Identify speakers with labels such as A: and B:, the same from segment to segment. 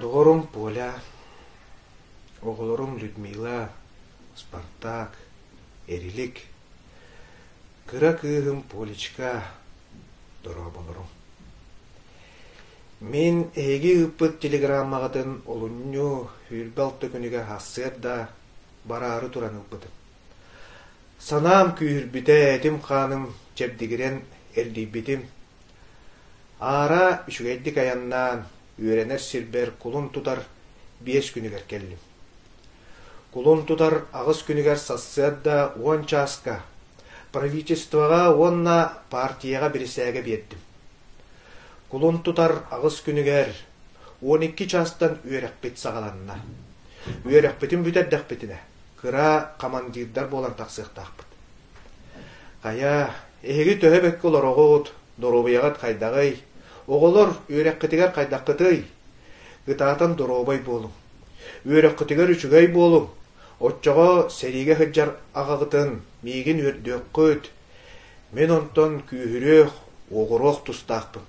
A: Доҕорум Поля, оҕолорум Людмила, Спартак, Эрилик, кыра кыыһым Полечка, дорооболорум. Мин эһиги ыыппыт телеграммаҕытын олунньу, сүүрбэ алта күнүгэр аһарсыарда, бараары туран ылбытым. Санаам күүһүрбүтэ, этим-хааным чэбдигирэн эргийбитим. Аара үчүгэйдик айаннаан, үөрэнэр сирбэр кулун тутар биэс күнүгэр кэллим. Кулун тутар аҕыс күнүгэр сарсыарда уон чааска правительствоҕа уонна партияҕа бирисээгэ биэрдим. Кулун тутар аҕыс күнүгэр уон икки чаастан үөрэхпит саҕаланна. Үөрэхпитин бүтэрдэхпитинэ, кыра командирдар буолан тахсыахтаахпыт. Хайа, эһиги төһө бэккэ олороҕут, доруобуйаҕыт хайдаҕый, оҕолор үөрэххитигэр хайдаххытый? Ытаатан доруобай буолуҥ. Үөрэххитигэр үчүгэй буолуҥ. Оччоҕо сэриигэ сылдьар аҕаҕытын миигин үөрдүөххүт, Мин онтон күүһүрүөх, оҕуруох тустаахпын.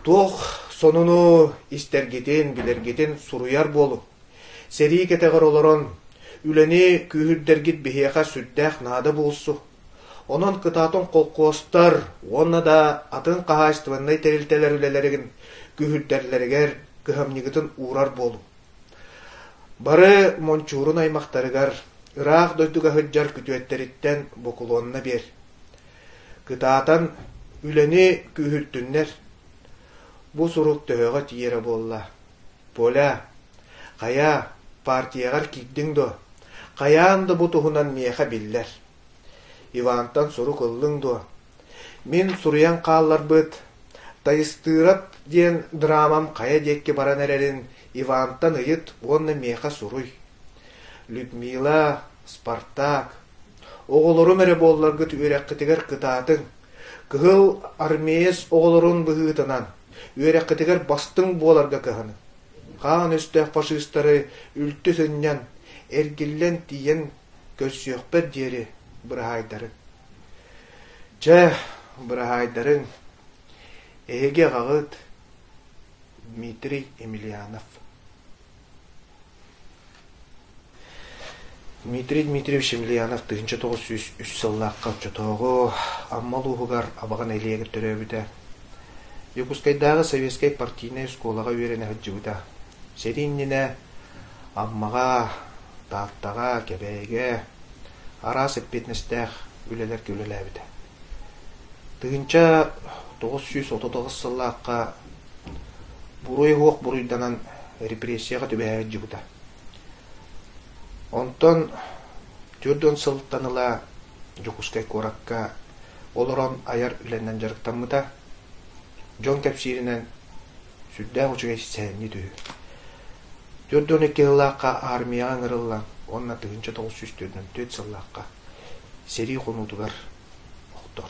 A: Туох сонуну истэргитин, билэргитин суруйар буолуҥ. Сэрии кэтэҕэр олорон, үлэни күүһүрдэргит биһиэхэ сүрдээх наада буолсу. Онон кытаатан холкуостар уонна да атын хаһаайыстыбаннай тэрилтэлэр үлэлэригин күүһүрдэллэригэр кыһамньыгытын уурар буолуҥ. Бары Мончуурун аймахтарыгар, ыраах дойдуга сылдьар күтүөттэриттэн бокулуонна биэр. Кытаатан, үлэни күүһүртүннэр, бу сурук төһөҕө тиийэрэ буолла? Поля, хайа, партияҕар киирдиҥ дуо? Хайаан да бу туһунан миэхэ биллэр. Ивантан сурук ыллыҥ дуо? Мин суруйан хаалларбыт «Тайыстыырап» диэн драмам хайа диэки баран эрэрин Ивантан ыйыт уонна миэхэ суруй. Людмила, «Спартак» оҕолорум эрэ буолларгыт үөрэххитигэр кытаатыҥ. Кыһыл армеец оҕолорун быһыытынан үөрэххитигэр бастыҥ буоларга кыһаныҥ. Хаан өстөөх фашистары үлтү сынньан, эргиллэн тиийэн көрсүөхпэр диэри быраһаайдарын. Чэ, быраһаайдарын, эһиги аҕаҕыт Дмитрий Емельянов. Дмитрий Дмитриевич Емельянов тыһынча тоҕус сүүс үс сыллаахха оччотооҕу Амма улууһугар Абаҕан элиэгэр төрөөбүтэ. Дьокуускайдааҕы советскай партийнай оскуолаҕа үөрэнэ сылдьыбыта. Сэрии иннинэ Аммаҕа Тааттаҕа, Кэбээйигэ араас эппиэтинэстээх үлэлэргэ үлэлээбитэ. Тыһыынча тоҕус сүүс отут аҕыс сыллаахха буруй-уох буруйданан репрессияҕа түбэһдьыбыта. Онтон төрт уон сылтан ыла Дьокуускай куоракка олорон айар үлэнэн дьарыктаммыта. Дьон кэпсииринэн, сүрдээх үчүгэй сэһэнньит үһү. Түөрт уон икки сыллаахха аармыйаҕа ыҥырыллан уонна тыһыынча тоҕус сүүс төрдүн түөрт сыллаахха сэрии хонуутугар охтор